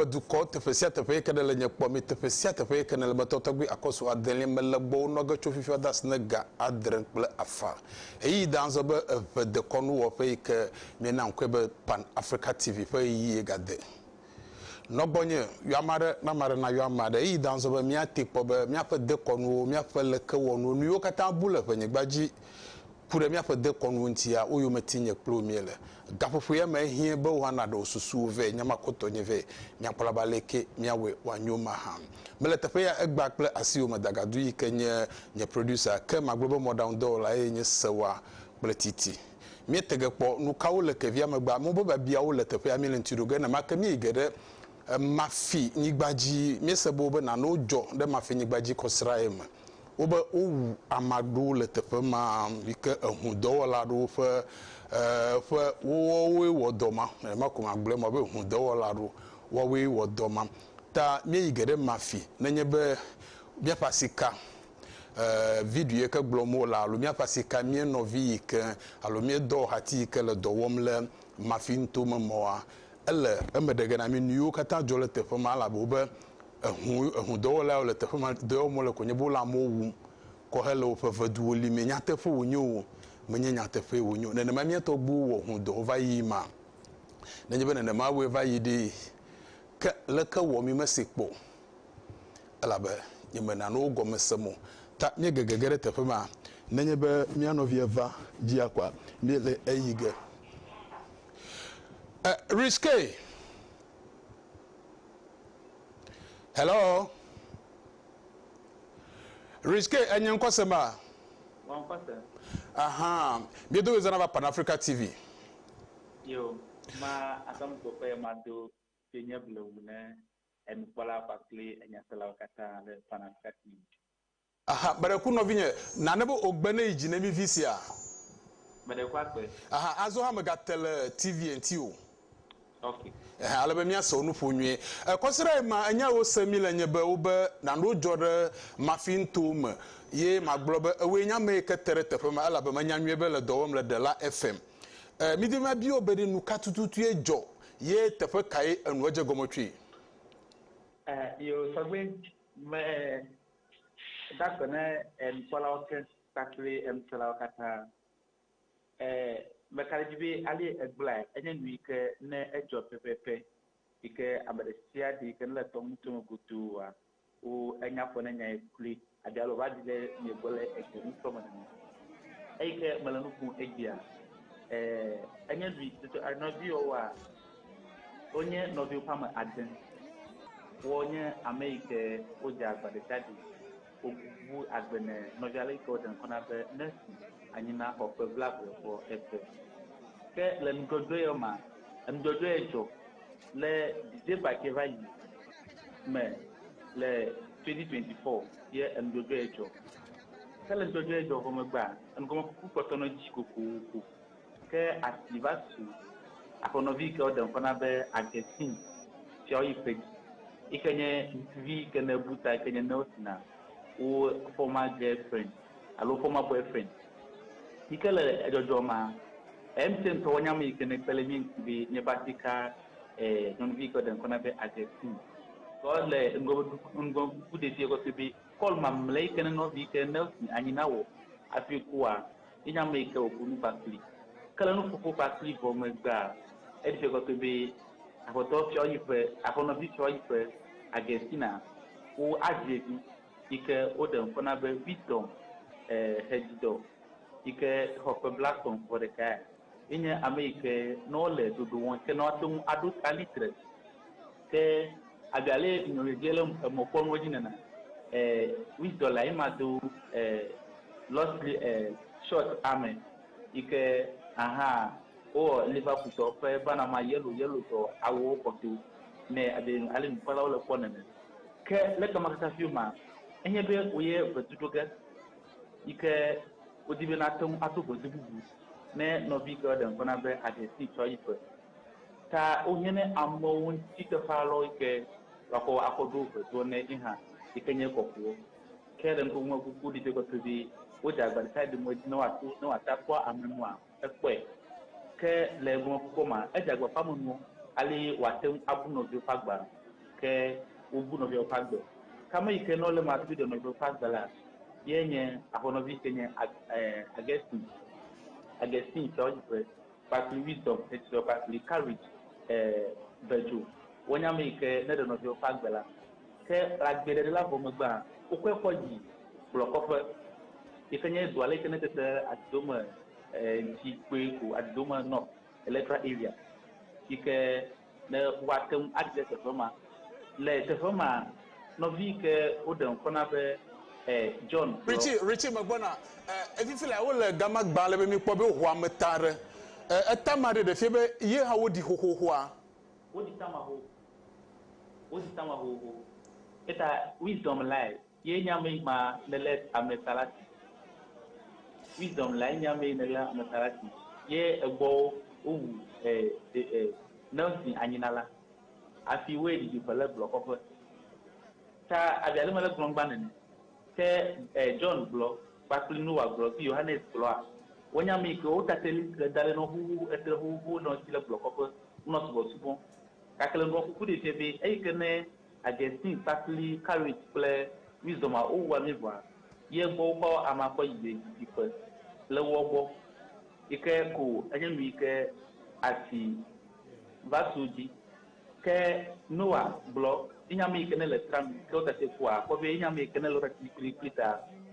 ƒe dukɔ teƒe sia teƒe yeke ne le nye kpɔ mi teƒe sia teƒe yeke ne le me tɔtɔgbi akɔsu adelia me le gbɔwo nɔge tso fifia de asi ne ga adre kple afã eyi da azɔ be eʋe dekɔnu wɔƒe yike Míena ŋkɔe be Pan Africa TV ƒe ɣeyiɣie gade. Nɔ gbɔnye, yɔ ame aɖe, ne ame aɖe nayɔ ame aɖe. Ɣeyiɣi da azɔ be míatee kpɔ be míaƒe dekɔnuwo, míaƒe lekewɔnuwo, nu yiwo katã bu le ʋenyigba dzi ku ɖe míaƒe dekɔnuwo ŋutia, wo yome tim nye kple wò míele. Gaƒoƒo ya me ehiẽ be wò hã nàɖe wò susuwo vɛ, nya ma kɔtɔ nye vɛ. Míakpɔ ɖa be aleke míawɔe wòanyo mahã. Mele teƒe ya egbea kple asiwòme dagadu yi ke nye nye producer, ke magblɔ be mɔɖaŋudɔwɔla eye nye sewa kple titi. Míete ge kpɔ nukawo le kevia megbe, amewo be biabiawo le teƒea míele ŋuti ɖo ge. Nenemake míeyi ge ɖe Mafi nyigba dzi, míese be wobe nanewo dzɔ ɖe Mafi nyigba dzi kɔ srãe me. Wobe wowu ame aɖewo le teƒe ma yi ke eŋu dɔwɔla aɖewo ƒe ƒe woawoe wɔ dɔ ma. Nenema ko magblɔe ma be eŋu dɔwɔla aɖewo woawoe wɔ dɔ ma. Ta míeyi ge ɖe Mafi nenye be míaƒe asi ka video yi ke gblɔm wole alo míaƒe asi ka mía nɔvi yi ke alo mía dɔwɔhati yi ke le dɔ wɔm le Mafi nuto me mɔa, ele eme ɖe ge na mí nu yiwo katã dzɔ le teƒe ma elabe wobe ehu ehudɔwɔla yawo le teƒe ma dɔ wɔm wole ko nye be wole amewo wum kɔ hele woƒe veduwo li mee. Nyateƒe wònye o, menye nyateƒee wònye o. Nenema mía tɔgbuiwo wɔ hu dɔ va yi ma? Nenye be nenema wɔe va yi ɖee, ke leke wɔ mi mese kpɔ o? elabe nyemena nuwo gɔme sem o. Ta míegege ge ɖe teƒe ma. Nenye be mía nɔvi eva dzia koa, míele eyi ge. E, Rizqe! Hello? Rizqe, ènye ŋkɔ sem a? Wɔ ŋkɔ sem. Aha, míedo ɣe zãna va Pan Africa TV. Yo, ma ate ŋu do ƒe ye ma do ƒe nye blewu ne enukpɔlawo kpakple enyaselawo katã le Panafricanism. Aha, Beɖeku nɔvinye, nane be ogbe ne yi dzi ne mi vi sia. Beɖeku agbe. Aha, azɔ hã mega te le TV ŋti o. Ok. Ehe, ale be mia se wo nuƒo nyuie. E, kɔsiɖa yi ma enya yi wo se mi le nye be wo be nanewo dzɔ ɖe mafi ŋto me ye ma gblɔ be ewoe nye ame yi ke te ɖe teƒe ma elabe me nya nyuie be le dɔ wɔm le Dela FM. E, mi domi ma bi wo be ɖe nuka tututue dzɔ Ye teƒe kae enu edze gɔme tsoe? E, yo tɔgbe me da gbe ne enukpɔlawo ke kpakple enuselawo katã. E, meka ɖe edzi be ale egblɔae enye nu yi ke ne edzɔ pɛpɛpɛ yi ke ame ɖe sia ɖe yi ke nele tɔŋuto me goduua Wo enya ƒo ne nyae kloe. Abialo va ɖi le mie gbɔ le egbe nu sɔ me nene. Eyi ke mele nu ƒom egbea, eh, enye vi, toto a nɔvi yɔ woa, wonye nɔvi woƒe ame ade. Wɔ nye ame yi ke wo dze agba ɖe sia ɖe wo wu agbe ne nɔvia le yi ke wo ɖe ŋkɔ na be Mercy anyi na xɔ ƒe blablae xɔ eve. Ke le nudzɔdzɔe yɔ ma, enudzɔdzɔe dzɔ Le Didier Paquet va yi me le 2024 ye enudɔdɔɛ dzɔ. Ke le nudɔdɔɛ dzɔ vɔ megbea, enugɔmekuku kpɔtɔ nɔ edzi kokoko. Ke asi va su aƒenɔvi yi ke woɖe ŋkɔ na be Augustin sia woyi kpe dzi yi ke nye ŋutsuvi yi ke ne bu ta yi ke nye Nelson wo former girlfriend. alo former boyfriend yike le edzɔdzɔ ma emtse ŋtɔ wanya me yike ne kpele mie ŋti be mie basi ka e nyɔnuvi yike de ŋkɔ na be agɛstin kɔ le ŋgɔ ŋgɔ ku ɖevi yike fi be kɔl mamle yike ne nɔvi yike ne fi anyi na wɔ afi kua yenya me yike wɔ kunu kpakpli ke le nuƒoƒo kpakpli vɔ megbea eɖi fi kɔkɔ be afɔtɔ fiɔ yiƒe afɔnɔvi fiɔ yiƒe agɛstina wo avi evi yi ke woɖe ŋkɔ na be Wisdom Hedzidɔ yi ke xɔ ƒe blatɔ̃ vɔ ɖeka ya, enye ame yi ke ne wole ɖoɖo wɔm ke ne woate ŋu aɖo ta liter. Ke abe ale nyɔnua dze le emɔkpɔnua dzi nena, Wisdom lae ma do Lost Short ame yi ke aha wowɔ Liverpool tɔ ƒe Banama yellow yellow tɔ awuwo kɔ to. Nɛ abe ale nukpɔlawo le kpɔm nene. Ke le eke ma katã fiu ma, enye be woye vedu ɖo ge yi ke wodi be nate ŋu ato vedu bubu ne nɔvi ke ɖe ŋkɔ na be aɖe si tsɔ yi ƒe. Ta wohiã ne amewo ŋuti teƒe alɔ yi ke wakɔ akɔ ɖo veduɔ ne yi hã yi ke nye kɔkuwo. Ke le ŋkuŋume kuku ɖi be kpɔtɔ be wode agba ɖeka ɖe mɔ dzi ne woato ne woate akpɔ ame nua. Èkpɔe, ke le eŋlɔkpɔkpɔ mea, edze agbagba ƒe amenuwo ale wòate ŋu abu nɔviwo ƒe agbe alo ke wobu nɔviawo ƒe agbe. Ke ame yi ke nɔ le eme hafi ɖe nɔviawo ƒe agbe la ye nye aƒenɔvi si ke nye Augustine, Augustine sia wodzi be kpakple Wisdom, Xexlẽ kpakple Courage, eh, Virgil wonye ame yi ke ne ɖe nɔviawo ƒe agbe la. Ke le agbeɖeɖela vɔ megbea, wokɔe kɔ yi blɔkɔƒe, yi ke nye dua le yi ke netete Adidome ŋti kpoe ko, Adidome North Electoral Area, yi ke ne woate ŋu adi ɖe teƒe ma. Le teƒe ma, nɔvi yi ke woɖe ŋkɔ na be John gblɔ. Richie, Richie megbɔna. E, fifi lea, wole gama gbã ale be míkpɔ be woho ameta aɖe. E, etama ɖe ɖefia be ye hã woɖi xoxoxoa. Woɖi tama xoxo. Wo si ta mahoho. Eta wisdom lae ye nye ame ma ne le ame salati. Wisdom lae nye ame ne le ame salati ye egbɔ wo wu eh de eh Nelson anyina la. Afi wo ye didi ƒe le gblɔ kɔƒe. Ta abia le me le gblɔ gba nene. Ke eh John gblɔ kpakple Noah gblɔ fi Yohanes gblɔa wo nye ame ke wo tateli le dale nɔ huhu etre huhu nɔ si le gblɔ kɔƒe nɔ subɔ subɔ. Keklẽŋkɔ kuku ɖee fia be eyi ke ne Augustine kpakpli Carrick kple Wisdom a wowua mí vɔa, ye gbɔ wokɔ amea kɔ yi ye didi ƒe le woɔ gbɔ yi ke ko enye nu yi ke asi va su dzi. Ke Noah gblɔ yi nye ame yi ke ne le tram ke wotate kpɔa akpɔ be yi nye ame yi ke ne le wotate dzi kplikpli ta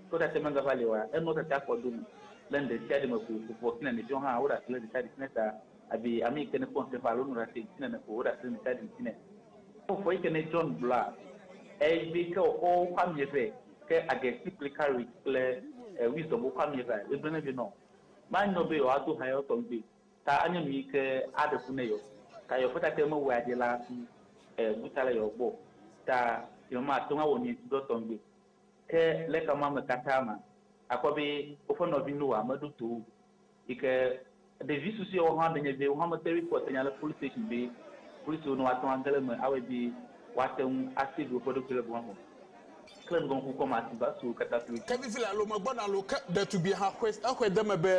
ke wotate mega va li oa, enu wotate akpɔ do nu le ŋɖesiaɖi me ko ƒoƒo kple neneviwo hã woɖe asi le ɖesiaɖi si ne ta. Abi ame yi ke nekpɔ nuteƒe alo nuɖase ŋutinɛ ne ko woɖase ɖeka ɖi ŋutinɛ. Kpɔ vɔ yi ke ne John gblɔa, egblɔe ke wòxɔ woƒe ami eve, ke Agesi kple Karit kple Wisdom woƒe ami evea, egblɔe vɛ nɔ manyɔ be yewoado ha yewoatɔ ŋugbe ta anye nu yi ke aɖe ku ne yewo. Ta yewo ƒe tate mewɔe aɖi la hafi bu ta le yewo gbɔ o, ta yewo mate ŋu awɔ nu yi ŋuti dɔ tɔ ŋugbe. Ke le xexeamea me katã mea, akpɔ be woƒe nɔvi Noa meɖo to wo o. Yi ke ɖevi susuewo hã ɖe nye be wo hã mete ŋui kpɔ tenya le polisi station be polisiwo ne woate ŋu age ɖe eme awɔe be woate ŋu a save woƒe ɖokui le gɔme vɔ. Ke le nugɔmekpɔkpɔ me asi va su wo katã kloe dzi. Ke vivi le alome gbɔ na lo ke ɖetugbie hã xɔe se exɔe de eme be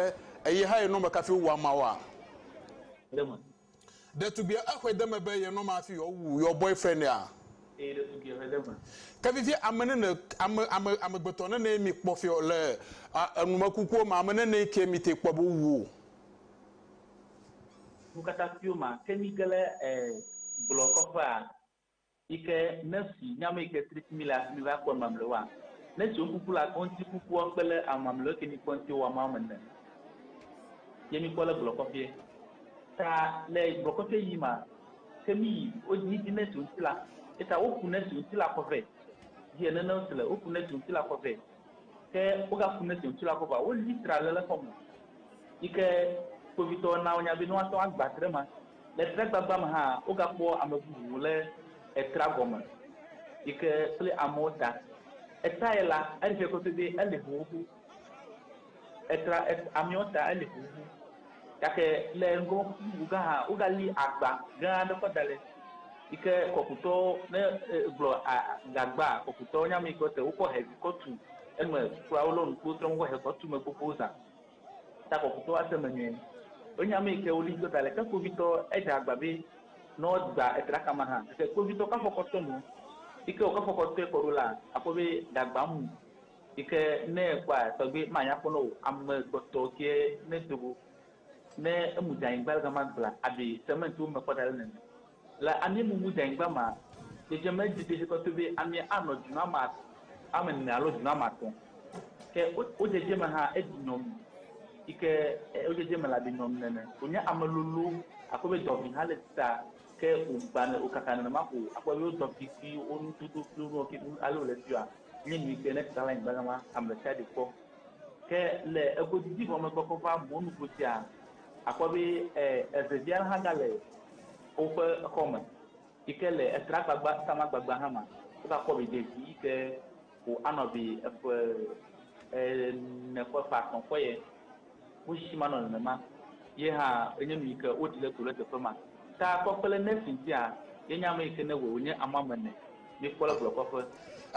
eye hã ye nɔmekafi wowɔa maoa? Ɖe me. Ɖetugbia exɔe de eme be ye nɔma hafi yewoawu your boyfriend a? Eye ɖetugbia exɔe de eme. Ke vivie ame nene, ame, ame, amegbetɔ nenee mi kpɔ fiɔ le a, enumekukuwo me, ame nenee kee mi te kpɔ be wowu wo. Nukatasiwo ma ke mi ge le e, gblɔ kɔƒea Yi ke ne si nya me yi ke tri simi le asimi va kpɔ mamle wa, ne si wokuku le akɔ ŋti kukua kpe le ama mle ke mi kpɔ ŋti wa ma me ne ye mi kpɔ le gblɔ kɔfie. Ta le gblɔ kɔfie yi ma ke mi yi wo dzi dzi ne si ŋti la eta wo ku ne si ŋti la kɔ vɛ dzi ene ne si le wo ku ne si ŋti la kɔ vɛ ke wo ga ku ne si ŋti la kɔ va wo li tra le le xɔ me yi ke kpovitɔ na wo nya be ne wa tɔ agba tre ma. Le tragbagbã me hã, wogakpɔ ame bubu le etra gɔme yi ke kple amewo ta. Etae la, edze kpɔtɔ be ele xoxo. Etra amewo ta ele xoxo. Gake le ŋgɔ bubu gã hã, wogali agba gã aɖe kɔ da ɖi yi ke kɔkutɔwo ne egblɔ a gagba kɔkutɔwo nya me yi ke wote wokɔ he kɔ tu eme kura wo lɔ nu kpɔ wotrɔ mɔ kɔ he kɔ tu eme gbogbo zã. Ta kɔkutɔ ase me nyuie. Wo nya me ke wo li do ta le ke kpovitɔ e dza gba be nɔ gba e tra kama ha ke kpovitɔ ka fɔkɔ tɔ nu yi ke wo ka fɔkɔ tɔe kɔ ɖo la a kpɔ be da gba mu yi ke ne e kpɔa tɔgbe ma nya kpɔ nɔ wo ame gbɔ tɔ ke ne do go ne e mu dza yi gba le gama gbla a be sɛmɛnti wo me kpɔ da le nɛnɛ. Le amie mumu dɛnŋgba ma, dzedzeme didi he tɔtɔe be amie a nɔ djinu ame at ame ne alo djinu ame atɔ. Ke wo wo djedje me ha edji nyɔnu yike e wo djedje me la be nyɔnu nene. Wo nye ame lolo akpɔ be dɔvi ha le sita ke wo gba ne wo kaka nenema ko akpɔ be wo dɔvi kpi wo nu dodo kpi wo nuɔ ke nu ale wo le fia nye nu yike ne tra le anyigba gama ame ɖesiaɖe kpɔ. Ke le ego didi vɔ megbe kɔ va mɔnu go djia akpɔ be e eve vi ale ha ga le Woƒe exɔ me yike le esra gbagba tama gbagba hã ma wo ga kpɔ vi ɖevi yike ko anɔ vi eƒe ene ƒe ƒe atɔ ƒe ye wo tsitsi ma nɔ nenema ye hã enye nu yike wo ɖi le to le teƒe ma ta kpɔ kple nurse ŋtia ye nye ame yike ne wɔ wonye ame ame ene mi kpɔ le blɔ kɔ ƒe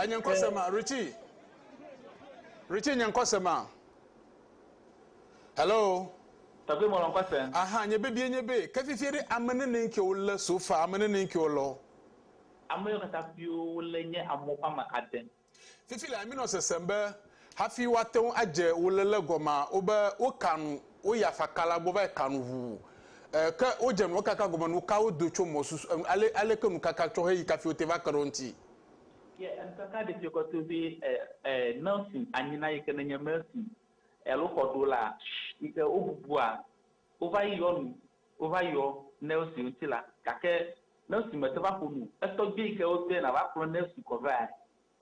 enye ŋkɔ se ma Richie Richie nye ŋkɔ se ma. Hello. Tɔgbe mɔlɔn kɔ se. Aha nye bebie nye be ke fifie ɖe ame nene ŋke wo le so fa ame nene ŋke wo lɔ. Ame yɔ kata fio wo le nye amɔ ƒe ame ade. Fifi la mi nɔ sesem be hafi wo ate ŋu adze wo le le gɔma wo be wo ka nu wo ya faka la gbɔ va yi ka nu ʋu e ke wo dze nua kaka gɔme nu ka wo do tso mɔ susu e ale ale ke nu kaka tsɔ he yi kafi wo te va ke ɖe wo ŋti. Ye enu kaka ɖe fiɔ kɔ to be e e nursing anyina yi ke ne nye nursing. Alo xɔɖola yi ke wobubua wova yi yɔ nu, wova yɔ Nelsi ŋuti la, gake Nelsi mete va ƒo nu o. Etɔgbui yi ke wobia na va kplɔ Nelsi kɔ vea,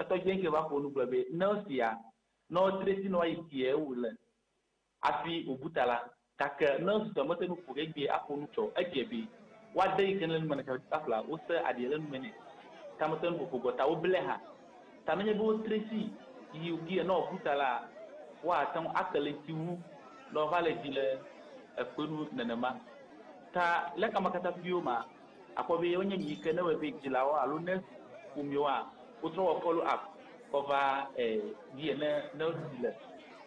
etɔgbui ŋkee va ƒo nu gblɔ be, Nelsi ya, ne wodzre si ne woayi kiɛ wòle hafi wòbu ta la, Gake ne susɔe mete ŋu ƒo ɖi egbea aƒo nu tsɔ. Edze be woade yi ke le nu me na Taɖodzikpakplaa. Wose aɖia le nu me nɛ. Tametenuƒoƒo gbɔ ta woblae hã. Ta nenye be wotre si yi wògee ne wòaku ta la, woate ŋu ake le eŋuti wu ne wòava le edzi le ekpe nu nenema. Ta le kamakataƒuiwo mea, àkpɔ be wonye nu yi ke ne ewɔe be dzilawo alo nurse ƒomewoa, wotrɔ wɔ follow up kɔ vaa ee dzi ene ne wodzi le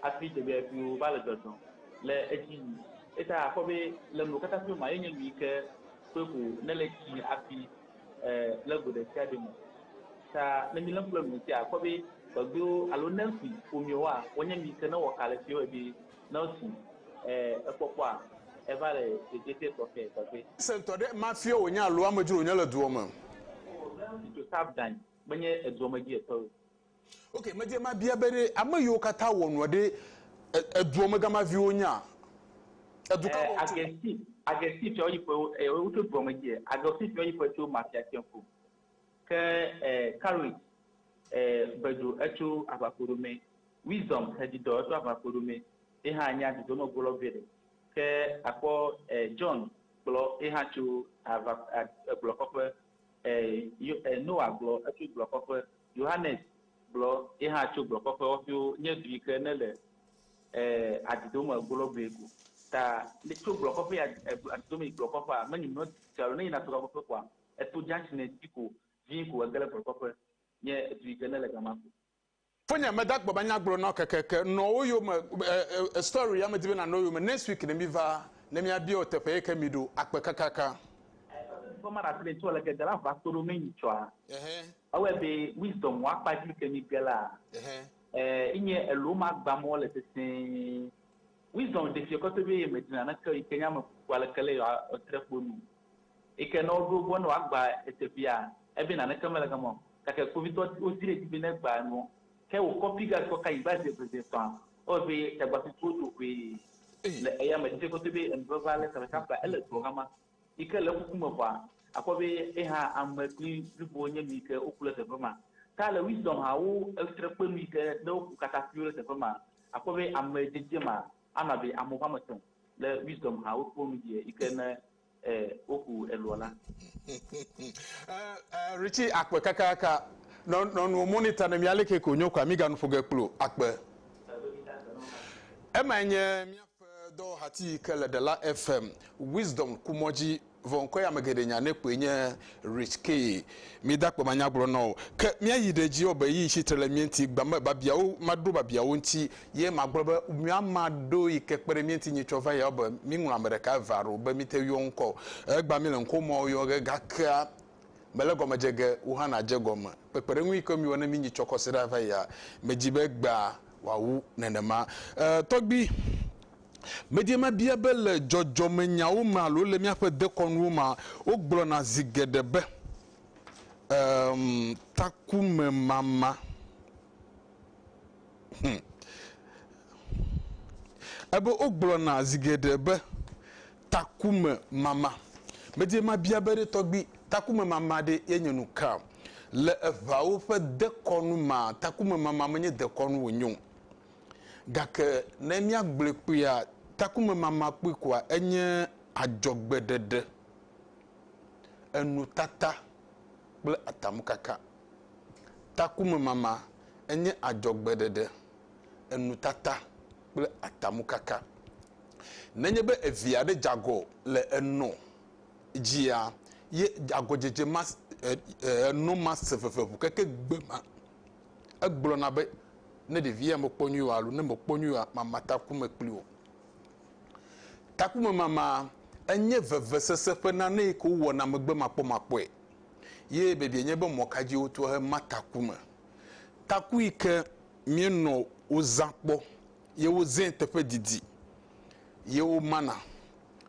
hafi dzebiabiawo va le dzɔdzɔm. le edzi yi. Eyata akpɔ be le nu katã ƒe mea, ye nye nu yi ke ƒe ƒo ne le tsi hafi e, le go ɖe sia ɖe me. Ta ne mi le ŋku le nu ŋuti akpɔ be gbegbewo alo nɛnfi ƒomeo wa, wonye nu yi ke ne wɔ ka le fi wɔ be ne wosi e, ekpɔkpɔa eva le dzedzete tɔxɛ gbegbe. Se ŋutɔ ɖe ema fie wonye alo amedzro wonye le dua me. Tso Sabdan menye edua me dzi etɔwo. Ok, medie mabia be ɖe ame yiwo katã wɔ nua ɖe edua me gama viwo nya? Edu ka me wotso? Agɛstin tsɔ yi ƒe wotso dua me dzi. Agɛstin tsɔ yi ƒe tso mafia tsɛ ƒo. Ke Karit Bedzo etso aʋakoɖo me. Wisdom Hedidɔ etso aʋakoɖo me. Ye hã nya dudɔ me gblɔ vɛ ɖe. Ke akpɔ John kplɔ ye hã tso agblɔ kɔƒe E, yo, e, Noa gblɔ etso gblɔkɔƒe. Yohanes gblɔ ye hã tso gblɔkɔƒe wɔƒewo nye du yi ke nele e, adidome gologbee ko. Ta ne tso gblɔkɔƒe yi e, adidome yi gblɔkɔƒea, menyi nɔ dzi alo ne yina tso gblɔkɔƒe koa, eto dzatsi ne dzi ko vi ko ege ɖe gblɔkɔƒe nye du yi ke nele gama ko. Fonya meda gbɔ banya gblɔ nao kekeke nɔ wo yome eh story ya medi be nanɔ yome next week ne mi va ne mia biao teƒe yike mi ɖo akpe kakaka. Eseseɖiƒe ma ɖasi ɖe tsɔ leke dela va kpoɖo me nyi tsɔa ewɔɛ be wisdom wa kpa dzi yike mi gela eh inye elo ma gba mɔ le sesee wisdom ɖefiɛ kɔte be yeme dina neke yike nye ame kuku aleke le yɔ tre kpo nu. Eyi ke ne woɖo egbɔ ne wòagba eteƒea, ebe naneke mele gama o, gake kpovitɔwo di ɖe edzi be negba enuɔ, ke wòkɔ piga kɔ ka anyigba zi eve zi etɔ̃a, ewɔe be tagbasusuwo do ʋee le eya me tsitsi kɔtɔe be enu vevea lé sabata flae ele dua gama. Yi ke le ekuku me vɔa, akpɔ be yehã ame kpli blibowo nye nu yi ke woku ɖe teƒe ma. Ta le Wisdom ha wo esrẽ kpe nu yi ke ne woku katã kpli wo ɖe teƒe ma, akpɔ be ame dzedzema Ana be ame woame etɔ̃ le Wisdom ha wokpɔ nu dzia yi ke ne eh, woku eloa la. Eh, eh, Richie akpe kakaka nɔ nɔ nuwo monitor ne mia leke ko nyo kwa mi ganu ƒoge kplo akpe. Emae nye miaƒe dɔwɔhati yi ke le Ɖela FM Wisdom kumɔdzi. Vɔ ŋkɔe ame geɖe nya nɛ kpoe nye Rich Key. Mida akpe manya gblɔ na wò. Ke míayi ɖe edzi wɔbe eye tsi tre le mía ŋuti. Gbea me babiawo, maɖo babiawo ŋuti. Ye magblɔ be, Mía ma ɖo yi ke kpe ɖe mía ŋuti nyi tsɔ va yi wɔbe míŋlɔ ame ɖeka eve alo be míte yɔ ŋkɔ o. Egbea míle ŋkɔ mawo yɔ ge gakea mele gɔme dze ge wò hã nàdze gɔme. Kpekpeɖeŋu yi ke míwɔ ne míyi tsɔ kɔsiɖa va yia, medi be egbea wòawu nenema. E, tɔgbui. Medie mabia be le dzɔdzɔmenyawo me alo le míaƒe dekɔnuwo mea, wogblɔna zi geɖe be, Eem, takumemama. Hum. Ebe wogblɔna zi geɖe be, takumemama. Medie mabia be ɖe tɔgbi, takumemama ɖe yenye nu kaa? Le Eʋeawo ƒe dekɔnu mea, takumemama menye dekɔnu wònye o. Gake ne míagblɔe kpuia, takumemama kpui koa enye adzɔgbeɖeɖe, enutata kple atamkaka. Takumemama enye adzɔgbeɖeɖe, enutata kple atamkaka. Nenye be evi aɖe dze agɔ le enɔ dzia, ye agɔdzedze ma, enɔ ma se veve ŋu keke gbe ma. Egblɔna be, Ne ɖevia mekpɔ nyuie o alo ne mekpɔ nyuie oa, mama takume kpli wò. Takumemama enye vevesese ƒe nane yi ke wowɔna megbemakpɔmakpɔe ye biabia nye be mɔ ka dzi wotoa hema takume. Taku yi ke míenɔ wozã kpɔ ye wozẽ teƒe didi ye womana.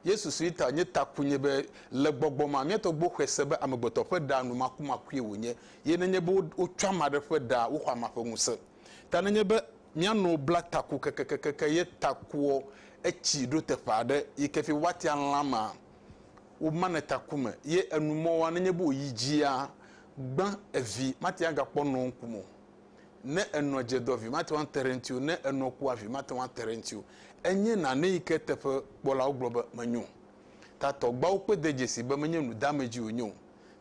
Yesu si ta nye taku nye be le gbɔgbɔ ma, míatɔ gbɔ xɔe se be amegbetɔ ƒe ɖa nu makumakue wònye, ye nenye be wotsɔ ame aɖe ƒe ɖa, woxɔ amea ƒe ŋusẽ. Ta nenye be míanɔ bla taku kekekeke ye takuɔ, etsi ɖo teƒe aɖe yi ke fi woatia lã mea, womanɛ taku me ye enu mɔa nenye be wòyi dzia, gbã evi, mate ŋu agakpɔ nɔŋ kum o. Ne enɔ dze dɔ vi mate ŋu ate ɖe eŋuti o, ne enɔ kua vi mate ŋu ate ɖe eŋuti o. Enye nane yi ke teƒe kpɔlawo gblɔ be menyo o. Ta tɔgbuawo kpɔe de dzesii be menye nudeamedzi wònye o.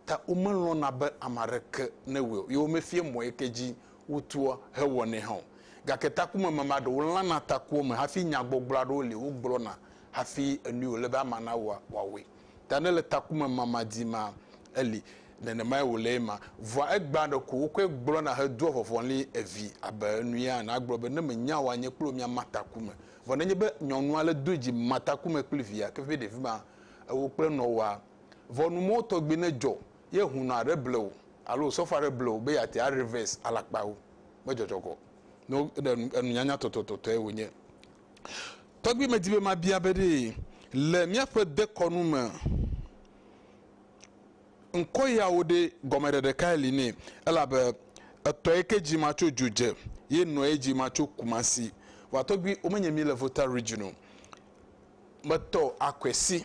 Ta womelɔ̃na be ame aɖeke newɔe o, ye womefia mɔ yi ke dzi wotua hewɔnɛ hã o. Gake takumeme ma ɖewo lãna takuwo me hafi nyagbɔgblɔ aɖewo li wogblɔna hafi enui wòle be amea nawɔa, wòawɔe. Ta ne le takume ma ma di ma eli nenemae wòle ye ma. Vɔa egbea ɖeko wokɔe gblɔna hedoa vɔvɔli evi abe enuya ene agblɔ be ne menya oa nye kple wò mia ma takume. Vɔ nenye be nyɔnua le doe dzi ma takume kple via ke vɛ ɖevi ma ewò kple nɔwoa. Vɔ nu mɔwo tɔgbi ne dzɔ ye hunɔ aɖe ble wò alo wòsɔfɔ aɖe ble wò be yeate a reverse alakpa wò me dzɔdzɔgɔ no enunyanya tɔtɔtɔtɔe wònye. Tɔgbi medi be mabia be ɖe le míaƒe dekɔnu me ŋkɔ yawo ɖe gɔmeɖeɖe kae li nɛ elabe etɔe ke dzi ma tso dzo dze ye nɔe dzi ma tso Kumasi. Vɔa tɔgbi womenye mí le Volta Region o. Metɔ akɔe si.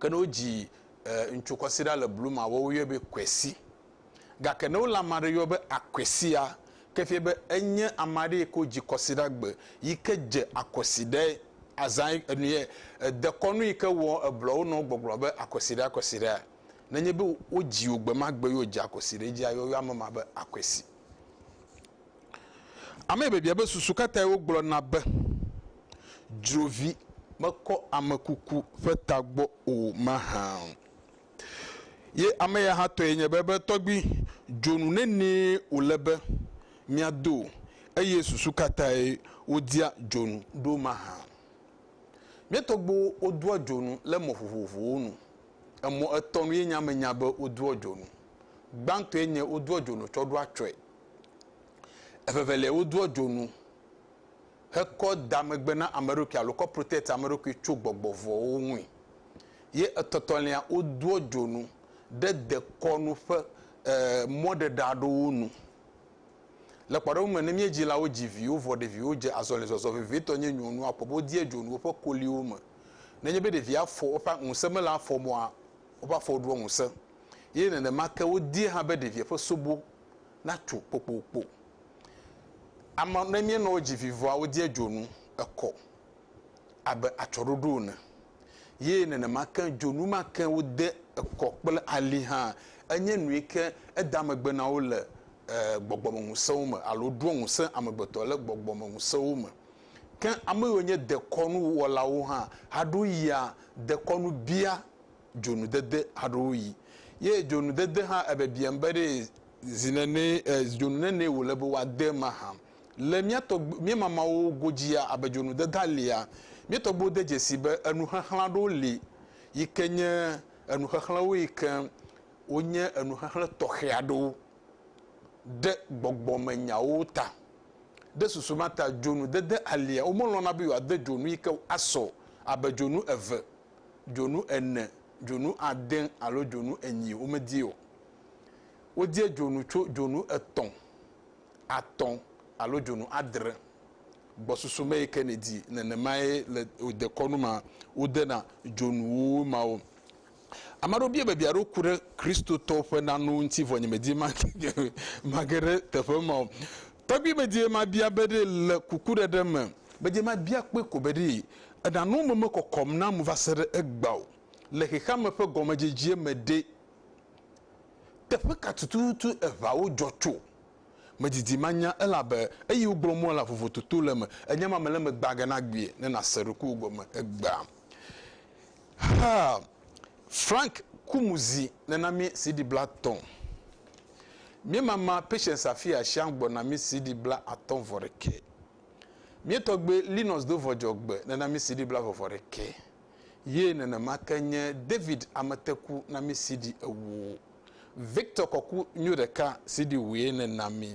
Ke ne wodzi ŋutsu kɔsiɖa le blu ma, woawo yɔe be kwesi. Gake ne wole ame aɖe yɔ be akwesia, ke fia be enye ame aɖe yi ke wodzi kɔsiɖa gbe yi ke dze akɔsiɖae. Azã enuyɛ dekɔnu yi ke wɔ eblɔwo nɔ gbɔgblɔ be akɔsiɖa akɔsiɖa. Nenye be wodzi wò gbemagbe ye wodze akɔsiɖa edzi ayɔ ame ma be akwesi. Amee biabia be susu ka tae wogblɔna be dzrovi mekɔ amekuku ƒe tagbɔ o mahã? Ye ame ya hã tɔe nye be ebe tɔgbi dzonu nenee wòle be míado o, eye susu ka tae wodia dzonu ɖo mahã? Mía tɔgbuiwo wodoa dzonu le mɔ vovovowo nu. Emɔ etɔ̃ nue nye ame nya be wodoa dzonu. Gbãtɔe nye wodoa dzonu tsɔ ɖo atsyɔ̃e. Evevelia, wodoa dzonu hekɔ da megbe na ame ɖokui alo kɔ protect ame ɖokui tso gbɔgbɔ vɔ̃wo ŋui. Ye etɔtɔlia, wodoa dzonu ɖe dekɔnu ƒe e mɔɖeɖe aɖewo nu. Le kpɔɖeŋu me, ne míedzilawo dzi viwo vɔ ɖeviwo dze azɔlizɔzɔ vevitɔ nye nyɔnua akpɔ be wodia dzonu woƒe koliwo me. Nenye be ɖevia afɔ woƒe ŋusẽ mele afɔ mɔa, woƒe afɔwo ɖua ŋusẽ. Ye nenema ke wodia hã be ɖevia ƒe sobo natso kpokpokpo. Ama, ne míenɔ wo dzi vi vɔa, wodie dzonu ekɔ abe atsɔɖoɖo ene. Ye nenema ke dzonu ma ke wode ekɔ kple ali hã enye nu yi ke edea megbe na wo le e gbɔgbɔmeŋusẽwo me alo ɖoa ŋusẽ amegbetɔ le gbɔgbɔmeŋusẽwo me. Ke ame yiwo nye dekɔnu wɔlawo hã haɖo yia dekɔnu bia dzonudede haɖowoɣi. Ye dzonudede hã ebiabiam be ɖe zinenee, dzonu nenee wòle be woade mahã. Le mía tɔgb, mía mamawo godzia, abe dzonudedea lia, mía tɔgbuiwo de dzesii be enuxexlẽ aɖewo li yi ke nye enuxexlẽwo yi ke wonye enuxexlẽ tɔxɛ aɖewo ɖe gbɔgbɔmenyawo ta. Ɖe susu ma ta dzonudede alia, womelɔ̃na be yewoade dzonu yi ke asɔ abe dzonu eve dzonu ene, dzonu ade alo dzonu enyi, womedii o. Wodie dzonu tso dzonu etɔ̃, atɔ̃ alo dzonu adre gbɔsusu me yi ke nèdi. Nenemae le wò dekɔnu mea, wodena dzonuwo mawo. Ame aɖewo bia be, Bia ɖo ku ɖe Kristotɔwo ƒe nanewo ŋuti vɔ nyemedi mage ɖe teƒe ma o. Tɔgbui bedie mabia be ɖee le kukuɖeɖe me. Bedie mabia kpɔe ko be ɖee eɖano me mekɔkɔm nam va se ɖe egbea o. Le xexeame ƒe gɔmedzedzie me ɖe, teƒe ka tututu eŋawo dzɔ tso? Medidi manya elabe eyi wogblɔ mua la vovototo le eme. Enya ma mele eme gbaganagbie ne nàse ɖokuiwò gɔme egbea. Haa! Frank ku mu zi nena mí CD bla tɔ̃. Mía mama Patience Afia Shiang gbɔ na mí CD bla atɔ̃ vɔ ɖekɛ. Mía tɔgbe Linus do vɔdzɔ gbe nena mí CD bla vɔvɔ ɖekɛ. Ye nenema ke nye David Amete ku na mí CD ewo. Victor kɔku nyo ɖeka CD wue nena mí.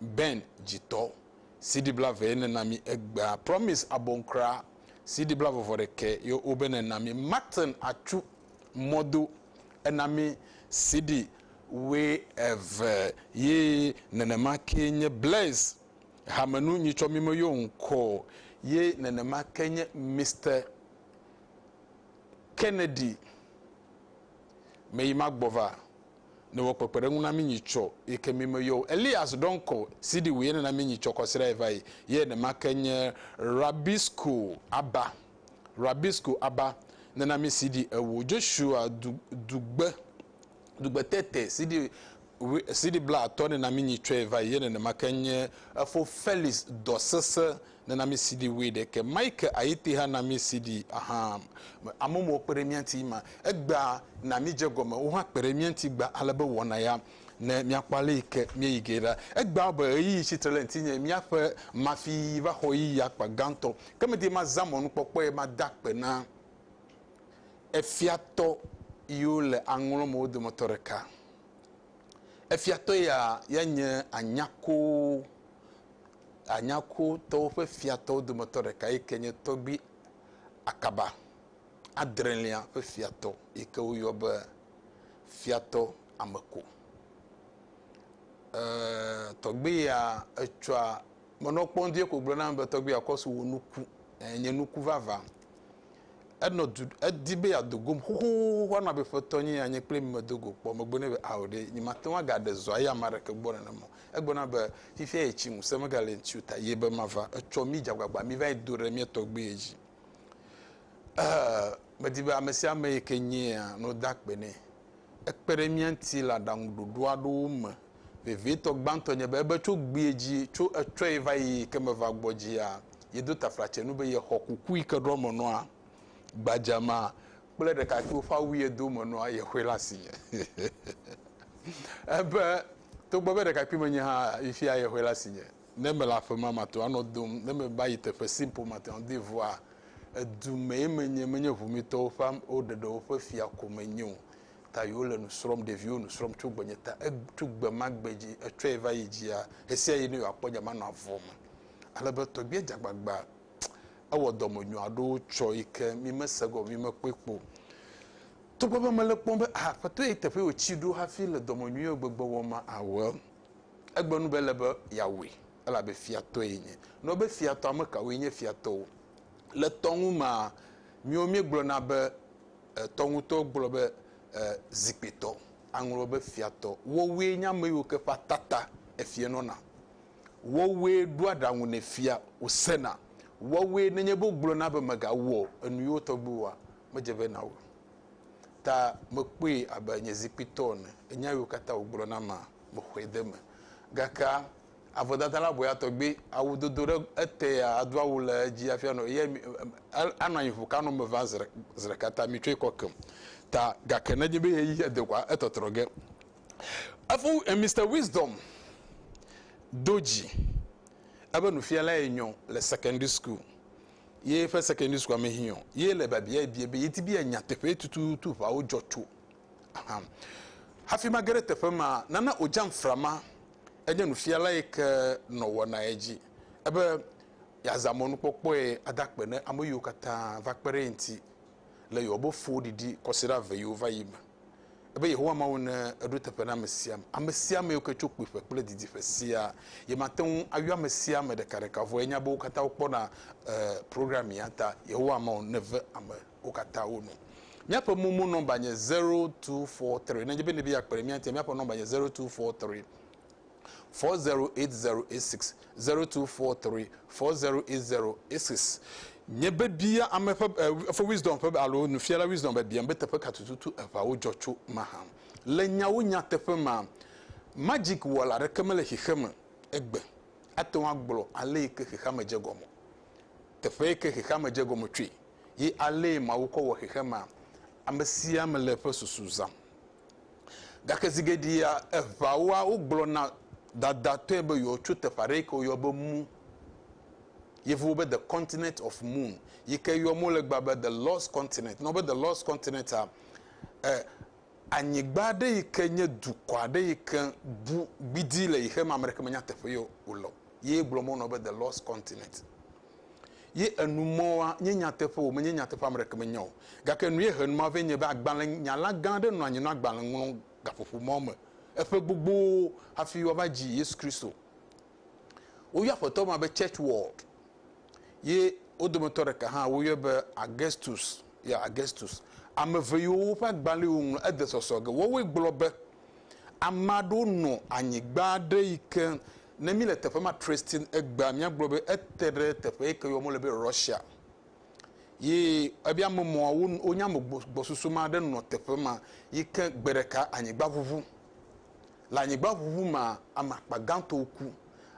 Ben dzitɔ CD blave ye nena mi egbea Promise Abonkra CD blave vɔ ɖekɛ yo wo be nena mi Martin Atsu mɔdo ena mi CD woe eve ye nenema ke nye Bless hamenu nyitsɔ mi me yo ŋkɔ ye nenema ke nye Mister Kennedy me yi ma gbɔ va. ne wɔ kpekpeɖeŋu na mí nyi tsɔ yi ke mí me yɔ o. Elias ɖɔ ŋkɔ si ɖi wòye nena mí nyi tsɔ kɔ srɛ va yi. Yɛ nema ke nye Rabisco aba. Rabisco aba nena mí si ɖi ewo. Joshua du, dugbe, dugbe tete si ɖi wi, si ɖi bla atɔ nena mí nyi tsɔɛ va yi. Yɛ nenema ke nye efo Felix dɔ sese Nunɔamesiɖi wee ɖe ke. Mike Ayete ha nunɔamesiɖi ahan. Amewo kpe ɖe mía ŋuti ema egbea na míedze egɔme. Wo hã kpe ɖe mía ŋuti egbea ale be wɔna ya ne míakpɔ ale yi ke míeyi ge ɖa. Egbea be ɣeyiɣi tsi tre ɖe ŋutinye. Míaƒe mafiyiyi va xɔ ɣeyiɣi akpa gãtɔ. Ke medi be mazã mɔnukpɔkpɔe mada akpe na efiatɔ yiwo le aŋlɔ me wo dometɔ ɖeka. Efiatɔ ya ya nye Anyako. Anyakotɔwo ƒe fiatɔwo dometɔ ɖeka yi ke nye Tɔgbui Akaba, adrelia ƒe fiatɔ yi ke woyɔ be Fiatɔ Ameko. E, tɔgbui ya etsɔa menɔ kpɔm vie ko gblɔ nam be tɔgbui akɔsu wò nuku nye nuku vava. Enɔ du edi be yeado gom xoxoxo anɔ abe ƒetɔ nye anye kple mi medo go kpɔ megbe ne be ao ɖe nyemate ŋu agaɖe zɔa ya ame aɖeke gbɔ nenema o. Egblɔ na be, Fifia ye tsi ŋusẽ megale ŋti o ta ye be mava etsɔ mi dzagbagba mi va yi do ɖe mia tɔgbe ye dzi. Eeh medi be ame sia ame yi ke nye ya no da kpe nɛ. Ekpe ɖe mia ŋti le aɖaŋu ɖoɖo aɖewo me. Vevietɔ gbãtɔ nye be ebe tso gbea dzi tso etsɔe va yi yi ke meva gbɔ dzia ye do tafla tse nu be ye xɔ kuku yi ke ɖɔ me nɔa gbadza ma kple ɖekakpuiwo ƒe awu ye do me nɔa ye xɔe le asinye. Ebe Togbɔ be ɖekakpuime nye hã yi fia ye hoe le asinye. Ne mele aƒe me mate ŋu anɔ dom. Ne meva yi teƒe si ƒo mate ŋu de ŋua. Edu mee menye, menye ŋumitɔwo ƒe ɖeɖewo ƒe fia ko menye o. Ta yi wole nu srɔ̃m, ɖeviwo nu srɔ̃m tso gbenye ta. Tso gbe ma gbe dzi etsɔe va yi dzia, ɣesiaɣi ne yewoakpɔ nya manɔ avɔm. Ale be tɔgbia dze agbagba. Ewɔ dɔmenyo aɖewo tsɔ yi ke mi mese gɔme, mi mekpɔe kpɔ o. Togbɔ be mele kpɔm be aa kpɔtɔ yi teƒe wòtsi ɖo hafi le dɔmenyuiwo gbegbe wɔm ma awɔ o. Egbe nu be ele be yeawɔe, elabe fiatɔe yenye. Nɔ be fiatɔ, ame kawoe nye fiatɔwo? Le tɔ ŋu mea, míwo míegblɔna be, e, tɔ ŋutɔ gblɔ be, e, zikpuitɔ. Aŋlɔwɔ be fiatɔ. Wowoe nye ame yiwo ke ƒe ata ta efia nɔna. Wowoe ɖoa aɖaŋu ne fia wòsena. Wowoe, nenye be wogblɔna be megawɔ enu yewo tɔgbiwoa, medze vɛ na wò o. Ta mekpɔe abe nye zikpui tɔ ene. Nya yiwo katã wògblɔ na mea, mexɔe de eme. Gakea, avɔdada la bɔea tɔgbi, awu dodo ɖe etea, ado awu le edzi hafi anɔ, eyae mi, anɔ anyi ƒo kano me va zi, zi ɖeka ta mitsɔe kɔ kem. Ta gake ne enye be ɣeyiɣi he de koa, etɔtrɔ ge. Efo, Mister Wisdom do dzi. Ebe nufialae nyɔ le secondary school. Ye ƒe secondary school me hiɔ, ye le biabiae bia be yedi be yeanya teƒee tututu ʋawo dzɔ tso. Ahan. Hafi mage ɖe teƒe ma, Nana Ojamfra ma enye nufiala yi ke nɔ wɔnae edzi ebe yeazã mɔnukpɔkpɔe ada akpe ne ame yiwo katã va kpe ɖe eŋuti le yewo be fo ɖiɖi kɔsiɖa ve yiwo va yi me. Ebe Yehowa Mawu ne eɖo teƒe na ame sia ame, ame sia ame yiwo ke tso kpuiƒe kple didiƒe siaa. Ye mate ŋu ayɔ ame sia ame ɖekaɖeka vɔ yenya be wo katã wokpɔna e program ya ta. Yehowa Mawu neve ame wo katã wo nu. Míaƒe momo nɔmba nye zero two four three. Ne edze be nèdi be yeakpe ɖe mía ŋutia, míaƒe nɔmba nye zero two four three. four zero eight zero eight six zero two four three four zero eight zero eight six nye be bia ame ƒe eƒe eh, wisdom ƒe alo nufiala wisdom be biam be teƒe ka tututu eʋawo dzɔ tso ma hã le nyawo nyateƒe ma magic wɔla aɖeke mele xexeme egbe ate ŋu agblɔ ale yi ke xexeame dze gɔme teƒe yi ke xexeame dze gɔme tsoe ye ale mawu kɔ wɔ xexemea ame sia ame le eƒe susu zam Gake zi geɖea eʋawoa wogblɔ na dadatɔe be yewoatso teƒe aɖe yi ke woyɔ be mu. Yevuwo be the continent of moon yi ke yɔ mo le gba be the lost continent. Nɔ be the lost continent a eh, anyigba aɖe yi ke nye dukɔ aɖe yi ke bu gbidi le yi xe me ame ɖeke menya teƒe ye wòle o. Ye gblɔ mo nɔ be the lost continent. Ye enu mɔ wa, nye nyateƒe o, menye nyateƒe ame ɖeke menye o. Gake nu ye he numa vɛ nye be agbalẽ nyala gã aɖe nɔ anyi nɔ agbalẽ ŋlɔ gaƒoƒo mɔ me eƒe gbogbo hafi wa va dzi Yesu Kristo. Wo yɔ aƒetɔ ma be church world. Ye wo dometɔ ɖeka hã wo yɔe be Augustus, ya Augustus. Ame ve yiwo woƒe agbalẽ wo ŋlɔ ede sɔsɔ ge. Woawoe gblɔ be, Ame aɖewo nɔ anyigba aɖe yike Ne míle teƒe ma Tristan egbea míagblɔ be ete ɖe teƒe yi ke yɔ mole be Russia ye ebia ame mɔ wonya ame gbɔsusu ma ɖe nɔ teƒe ma yi ke gbe ɖeka anyigba ʋuʋu le anyigba ʋuʋu ma ame akpa gãtɔ ku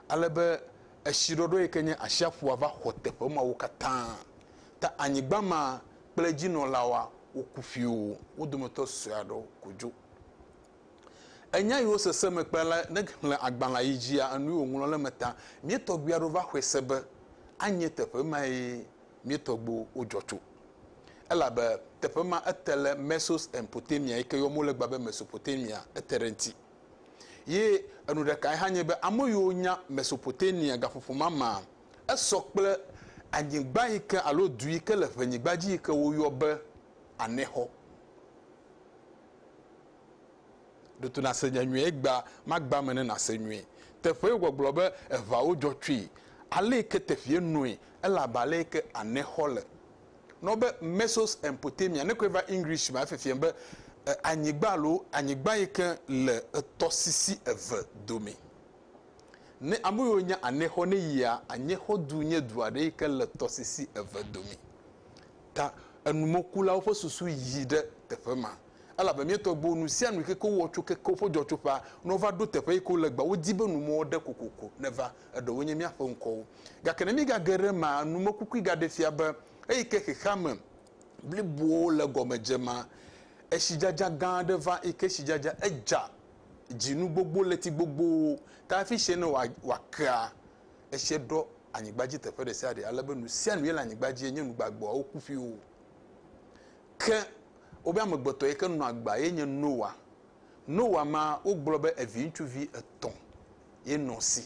ale be etsi ɖɔɖɔ yi ke nye asiaƒua va xɔ teƒe mawo katã ta anyigba ma kple edzinɔlawoa woku ƒio wo dometɔ sue aɖewo ko dzo. Enya yiwo sese me kpea la, ne xlẽ agbalẽa yi dzia enuyi wòŋlɔ ɖe eme ta. Mía tɔgbui aɖewo va xɔe se be anye teƒe mae mía tɔgbuiwo dzɔ tso, elabe teƒe ma ete le Mesos en Potamia yi ke yɔm wole egbea be Mesopotamia, ete ɖe eŋuti. Ye enu ɖekae hã nye be ame yiwo nya Mesopotamia gaƒoƒo ma mea, esɔ kple anyigba yi ke alo du yi ke le ʋenyigba dzi yi ke woyɔ be Anexɔ. Ɖo to nàse nya nyui egbea magbea me ne nàse nyui. Teƒee gbɔgblɔ be eʋawo dzɔ tsoe, alee ke teƒeɛ noe ele abe alee ke ane xɔ le. Nɔ be Mesos Empotemia, ne kɔe va English mea efiafiam be anyigba alo anyigba yi ke le etɔsisi eve dome. Ne ame yiwo nya anexɔ ne yia, anyexɔdu nye du aɖe yi ke le tɔsisi eve dome. Ta enumɔkulawo ƒe susu yi ɖe teƒe ma, elabe míetɔ gbɔ nu sia nu yi ke ke wowɔ tso keke woƒe dzɔtsoƒea, ne wova ɖo teƒe yi ke wole egbea, wodi be numɔ aɖe kokoko neva, eɖewoe nye míaƒe ŋkɔwo. Gake ne míegage ɖe emea, numekukui gaɖe fia be eyi ke xexeame blibo le egɔme dze ma, etsidzadza gã aɖe va, yi ke tsidzadza edza dzinu gbogbo, ɣleti gbogbowo ta hafi tsɛ ne wòakea, Esia ɖɔ anyigba dzi teƒe ɖe sia ɖe ale be nu sia nu ye le anyigba dzi nye nu gbagbeawo woku ƒiwo. Ke wobe amegbetɔ yi ke nɔ agba ye nye Noa. Noa ma wogblɔ be evi ŋutsuvi etɔ̃ ye nɔ si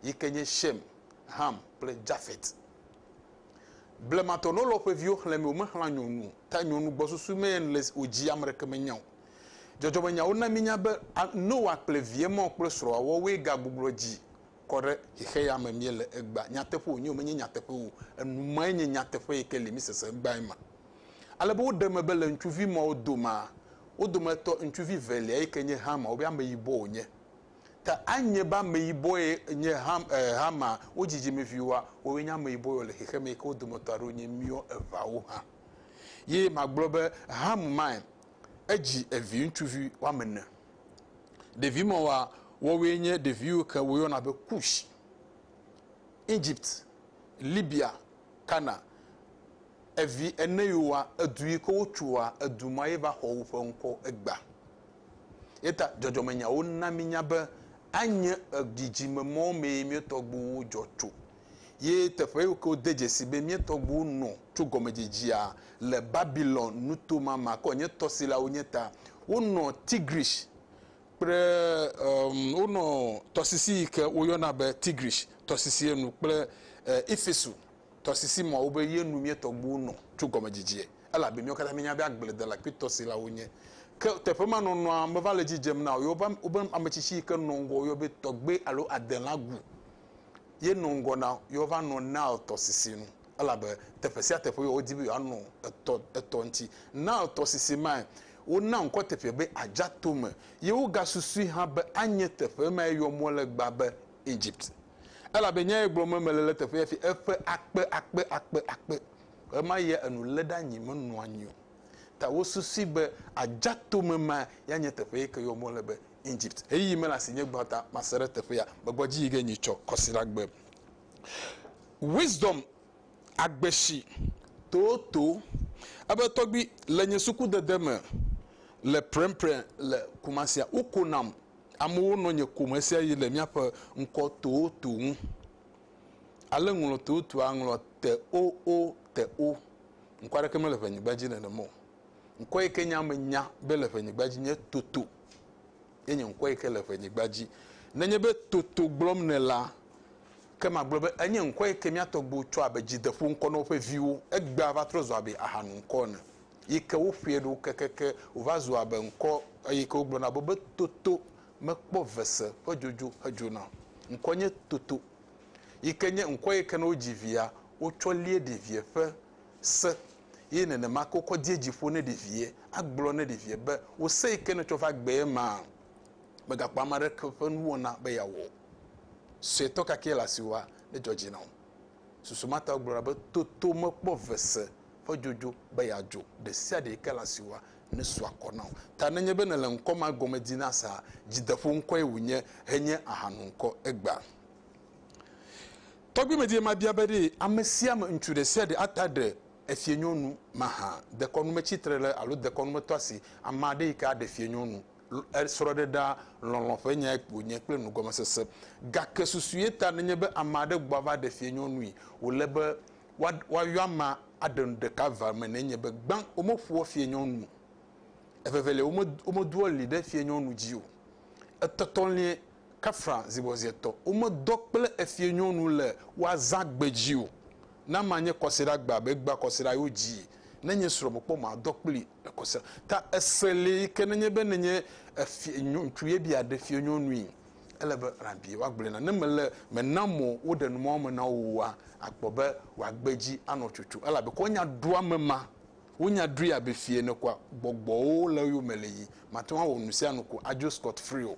yi ke nye Shem, Ham kple Jafet. Blematɔ ne wolɔ ƒe viwo xlẽ me womexlã nyɔnu ta nyɔnu gbɔsusu me le wo dzi ame ɖeke menya o. Dzɔdzɔmenyawo na mínya be Noa kple vie ma kple srɔ̃a woawoe gagbugbɔ dzi kɔ ɖe xexeya me míele egbea. Nyateƒe wònye o, menye nyateƒe o, enu mae nye nyateƒe yi ke li, mísese egbea ema. Ale be woɖe eme be le ŋutsuvi mawo domea, wo dometɔ ŋutsuvi velia yi ke nye Xama, wobe ameyibɔ wònye. Ta anye be ameyibɔe nye Xam, e, Xama, wo dzidzimeviwoa, woawoe nye ameyibɔ yewo le xexeme yi ke wo dometɔ aɖewo nye míwo eveawo hã. Ye magblɔ be Xam mae edzi evi ŋutsuvi woame ene. Ɖevi mawoa, woawoe nye ɖevi yiwo ke woyɔna be Kush, Egypt, Libya, Kana. Evi ene yiwoa, edu yi ke wotsoa, edu ma ye va xɔ woƒe ŋkɔ egbea. Ye ta dzɔdzɔmenyawo na mínya be anye dzidzime mawo mee mía tɔgbuiwo dzɔ tso. ye teƒe yiwo ke wode dzesi be mía tɔgbuiwo nɔ tso gɔmedzedzea le Babilon nuto ma ma kɔ nye tɔsilawo nye ta. Wonɔ Tigris kple um, wonɔ tɔsisi yi ke woyɔna be Tigris tɔsisi enu kple uh, Efesu tɔsisi mawo be ye nu mía tɔgbuiwo nɔ tso gɔmedzedzea elabe míawo katã míenya be agbledela kple tɔsilawo nye. Ke teƒe ma nɔnɔa meva le dzidzem na wo. Woƒe ametsitsi yi ke nɔ ŋgɔ woyɔ be tɔgbe alo adela gu. ye nɔ ŋgɔ na yewoava nɔ Nile tɔsisi nu elabe teƒe sia teƒe yi wodi be yewoanɔ etɔ etɔ ŋuti. Nile tɔsisi mae wona ŋkɔ teƒea be Adzatome ye wogasusui hã be anye teƒe mae yɔ mɔ le egbea be Egypt elabe nyae gblɔm be mele le teƒe ya fi eƒe akpe akpe akpe akpe ɣemaɣia enu lé ɖe anyi menɔ anyi o ta wosusui be Adzatome mae ya nye teƒe yi ke yɔ mɔ le be Egypt heyi me le asinye gbã ta mase ɖe teƒea megbɔ dzi yi ge nyi tsɔ kɔsira gbe wisdom agbeshi toto ebe tɔgbi le nye suku dede me le prɛnprɛ le kumasia woko nam amewo nɔ nye kome sia yi le miaƒe ŋkɔ toto ŋu ale ŋlɔ totoa ŋlɔ te o o te o ŋkɔ aɖeke mele ʋenyigba dzi nenemɔ o Ŋkɔ yi ke nye ame nya be le ƒenyigba dzi nye toto. Ye nye ŋkɔ yi ke le ƒenyigba dzi. Nenye be toto gblɔm nèlea, ke magblɔ be enye ŋkɔ yi ke mía tɔgbuiwo tsɔ abe dzideƒo ŋkɔ na woƒe viwo. Egbea va trɔ zu abe ahanu ŋkɔ ene yi ke woƒoe ɖo kekeke wòva zu abe ŋkɔ yi ke wogblɔna be be toto mekpɔ vese ƒe dzodzo hedzona o. Ŋkɔ nye toto yi ke nye ŋkɔ yi ke ne wodzi via, wotsɔ lie ɖevia ƒe Se, eye nenema ke wokɔ die dzi ƒo ne ɖevie, agblɔ ne ɖevie be, Wò se yi ke nètsɔ va gbee ma, mègakpɔ ame aɖeke ƒe nuwɔna be yeawɔ o. Suetɔ kakɛ le asiwòa, nedzɔ dzi na wò. Susu ma tae wogblɔna be, Toto mekpɔ ve se ƒe dzodzo be yeadzo. Ɖesiaɖe yi ke le asiwòa, nesu akɔ na wò. Ta nenye be nèle ŋkɔ ma gɔme di na saa, dzideƒo ŋkɔe wònye henye ahanu ŋkɔ egbea. Tɔgbuimedie mabia be ɖe amesiame ŋutsu ɖesiaɖe ata ɖe efiẽnyɔnu mahã, dekɔnumetsi-trele alo dekɔnumetɔa si ameaɖe yike aɖe fiẽnyɔnu srɔ̃ɖe ɖa lɔlɔ̃ ƒe nyae wònye kple nugɔmesese. Gake susue ta nenye be ameaɖe gbɔ ava ɖe fiẽnyɔnui, wòle be woayɔ amea aɖe nu ɖeka va eme nenye be gbã womeƒoa fiẽnyɔnu o, evevelia womedoa li ɖe fiẽnyɔnu dzi o, etɔtɔlia Kafra zibɔziɛtɔ, womedɔ kple efiẽnyɔnu le woazã gbe dzi o. Na manye kɔsiɖa gbea be gbea kɔsiɖa yo dzi. Ne nye srɔ̃ mekpɔ madɔ kpli le kɔsiɖa ta ese li yi ke nenye be nenye efiẽ nyɔ ŋutsu ye be yeaɖe fiẽnyɔnui ele be rabi woagblɔe na ne mele mena mɔ woɖe numawo me na wo oa akpɔ be woagbe dzi anɔ tsotso elabe kɔ nya ɖo ame ma wonya ɖoe abe fiẽ ene koa gbɔgbɔwo le eyome le yi mate ŋu awɔ nusianu ko adzo scot free o.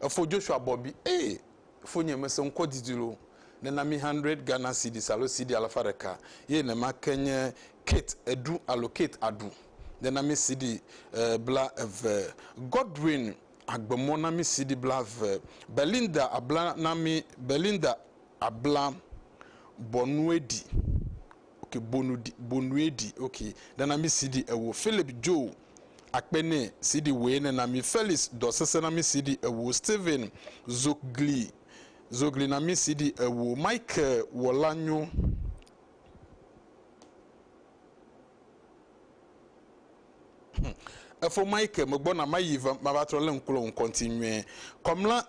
Efo Joshua bɔ bi, Ee, fonye, mese ŋkɔ didi lo. Nena mí hundred Ghana cedis alo cedi alafa ɖeka ye nema ke nye Kate eɖu alo Kate aɖu. Nena mí cedi bla eve. Godwin agbe mɔ na mí cedi bla eve. Belinda abla na mí, Belinda abla Bonuedi, ok, Bonuedi, Bonuedi, ok, nena mí cedi ewo. Philip Joe. akpe nɛ siɖi wòe nena mi Felix dɔ sese na mi siɖi ewo Steven zogli zogli na mi siɖi ewo Michael wɔla nyo. Efo Mike megbɔna mayi va mavatrɔ lé ŋku le ŋkɔ ŋti nyuie. Kɔmla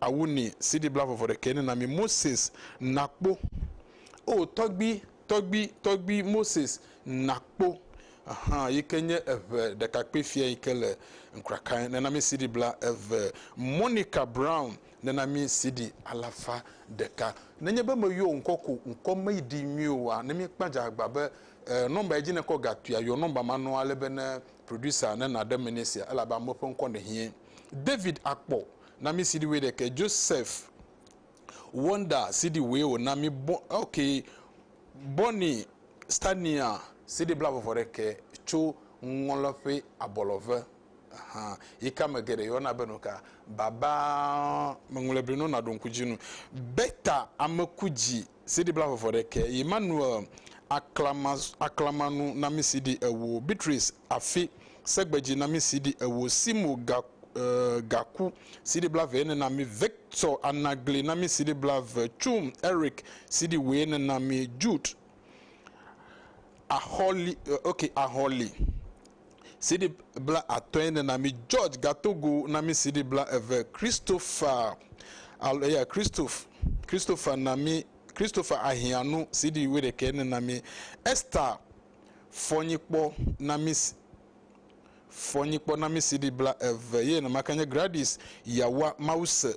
Awu ni CD bla vɔvɔ ɖekɛ nena mi Moses nakpo o tɔgbi tɔgbi tɔgbi Moses nakpo ahan yike nye eʋe ɖekakpui fia yike le nkrakae nena mi CD bla eve Monica Brown nena mi CD alafa ɖeka nenye be me yɔ ŋkɔ ko ŋkɔ me ɖi nyuie oa ne mi kpa dza agba be number edzi ne kɔ ga tuia yɔ number ma nɔ ale be ne producer ne na ɖe me ne sia elabe amewo ƒe ŋkɔ ne hie David akpɔ Na mi CD wuiɖekɛ. Joseph Wonder CD wue wòna mi. Bo, ok. Bonnie Stania. CD blaveve ɖekɛ tso ŋɔlɔƒe abɔlɔve. Ahan. Yi ke ame geɖe yɔna be nuka? Baba. Meŋlɔe be no naɖo ŋku dzi nu. Bertha Amekudzi. CD bla vɔvɔ ɖe ke yi Manuel aklama aklama nu na mi CD ewo Beatrice afi segbedzi na mi CD ewo Simo ga e gaku CD bla ve ne na mi Victor anagli na mi CD bla ve Chum Eric CD woe ne na mi Jude ahɔli ok ahɔli CD bla atɔe ne na mi George Gatogo na mi CD bla eve Christopher alo ya Christophe Christopher na mi Christopher Ahianu CD wuiɖekɛ ne na mi Esther Fɔnyikpɔ na mi Fɔnyikpɔ na mi CD bla eve ye nemake nye Gradis Yawa Mawuse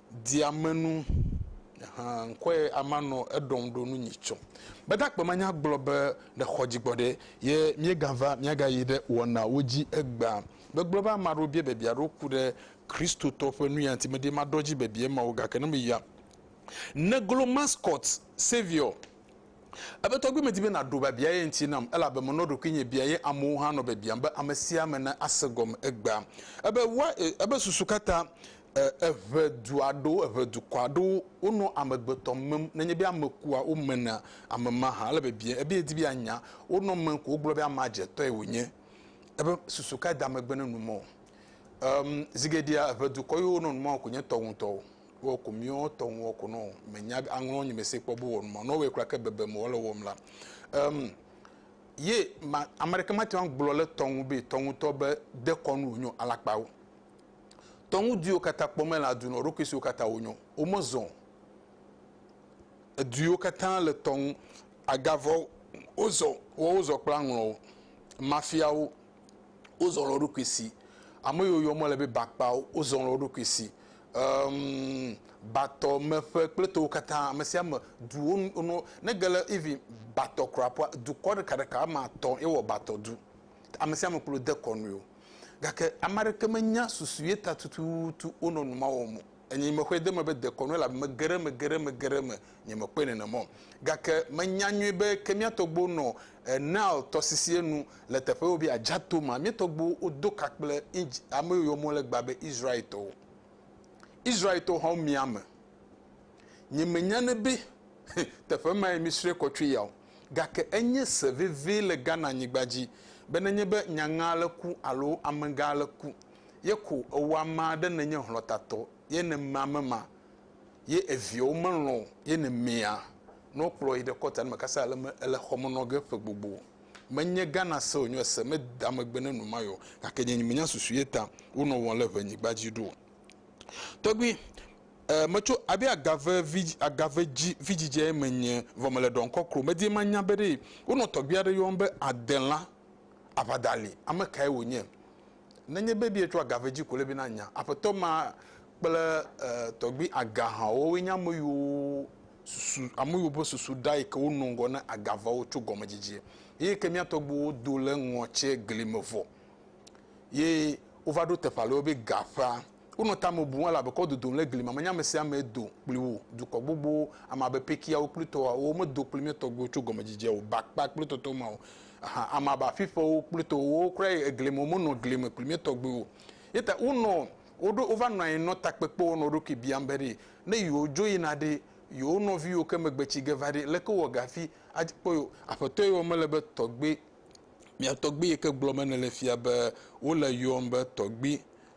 Diamenu ahan nkɔe ama nɔ eɖɔm ɖo nu nyi tsɔ. Gbadagbe ma nya gblɔ be le xɔ dzi gbɔɖe ye miega va miaga yi ɖe wɔna wo dzi egbea. Me gblɔ be ama ɖewo bia bebia ɖo ku ɖe Kristotɔ ƒe nuya ŋti me ɖi ma ɖɔ dzi bebia ma o gake ne me yia ne glo mascot, savior. Ebe tɔgbui medi be naɖo biabia ye ŋti nam elabe menɔ ɖokuinye bia ye amewo hã nɔ biabiam be ame sia ame ne ase gɔme egbea. Ebe wa e ebe susu kata e eʋe du aɖewo eʋe dukɔ aɖewo wonɔ amegbetɔ mem nenye be ame kua wo mena ame ma hã ele bebie ebe yedi be yanya wo nɔ mem ko wogblɔ be amea dze tɔe wonye ebe susu kae da megbe ne numɔ em zigeɖea eʋe dukɔ yiwo nɔ numɔ ko nye tɔwo ŋtɔwo Wɔ ko miɔ tɔ ŋwɔ ko nɔ mɛ nya aŋlɔ nyi mɛ se kpɔ bo wɔnu ma nɔ wɛ kura ke bebe mɔ le wɔm la em ye ma ame ɖeke ma tiwa gblɔ le tɔŋu be tɔŋu tɔ be de kɔnu nyɔ alakpawo tɔŋu diwo kata kpɔ mɛ la dunɔ ɖo kisiwo kata wo nyɔ wo me zɔ ediwo kata le tɔŋu agavɔ wo zɔ wo wo zɔ kpla ŋlɔwo mafiawo wo zɔ lɔ ɖo kisi ame yo yɔ mɔ le be bakpawo wo zɔ lɔ ɖo kisi Emm, batɔ me ƒe kple towo katã, ame sia ame, duwo nu, nu, ne ge le even batɔ kura ƒua, dukɔ ɖeka ɖeka ame atɔ ye wɔ batɔ du. Ame sia ame kplɔ de kɔ nɔe o. Gake ame aɖeke me nya susu ye ta tututu wonɔ nu ma wɔm o. Enye me xɔe de eme be dekɔnu elabe me ge ɖe eme, ge ɖe eme, ge ɖe eme nyemekpɔe nenema o. Gake menya nyuie be ke mía tɔgbuiwo nɔ Nile tɔsisie nu le teƒe woyɔa be Adjatto mea, mía tɔgbuiwo wodo ka kple ame yiwo yɔ mɔ le egbea be Israel-tɔwo. Israel-tɔwo hã womia ame. Nyemenya ne be teƒe mae mísrɔ̃e kɔ tsoe ya o, gake enye se vevie le Ghana-nyigba dzi be nenye be nyagã aɖe ku alo amegã aɖe ku ye ko ewɔ ame aɖe nenye hlɔ̃tatɔ ye ne mea ame ma ye eviawo melɔ̃ ye nemea nɔ kplɔ yi ɖe kɔta ne mekasa ale me ele xɔ me nɔ ge ƒe gbogbo. Menye Ghana se wònye ese me da megbe ne nu maye o, gake nye nyemenya susu ye ta wonɔ wɔm ale ʋe nyigba dzi ɖo o. Tɔgbui, e, metso abe agave vi, agave dzi vidzidzɛe menye, vɔ mele ɖɔm kɔkro. Medi manya be ɖe wonɔ tɔgbui aɖe yɔm be Adela Aʋadali, ame kae wònye. Nenye be bietsɔ agave dzi ko le be na nya aƒetɔ ma kple e tɔgbui aga hã o, woe nye ameyiwo susu, ameyiwo ƒe susu ɖa yi ke wo nɔ ŋgɔ ne agavawo tso gɔme dzidzie. Eyi ke mía tɔgbuiwo do le ŋɔtsie gli me vɔ ye wova ɖo teƒe ale wo be ga ƒea. Wonɔ ta me bum ale abe kɔ dodom le gli mamenya me sia me do kpli wò dukɔ gbogbowo, ame abe Pekiawo kple Toawo, womedo kpli mía tɔgbuiwo tso gɔmedzedzea o, ba kpa kple tɔtɔ ma o hã, ame abe Afiƒewo kple Towo, wowo kura yi egli me, womenɔ gli me kpli mía tɔgbuiwo o. Eya ta wonɔ, woɖo, wova nɔ anyi nɔ takpekpe wɔm nɔ wo ɖokui biam be ɖe, ne yewodzo yina ɖe yewo nɔviwo ke megbe tsi ge va ɖe, leke wowɔ ge hafi adi kpɔ yewo? Aƒetɔ yɔ mele be tɔgbui, mia tɔgbui yi ke gblɔ be nele fia be wole yɔm be tɔgbui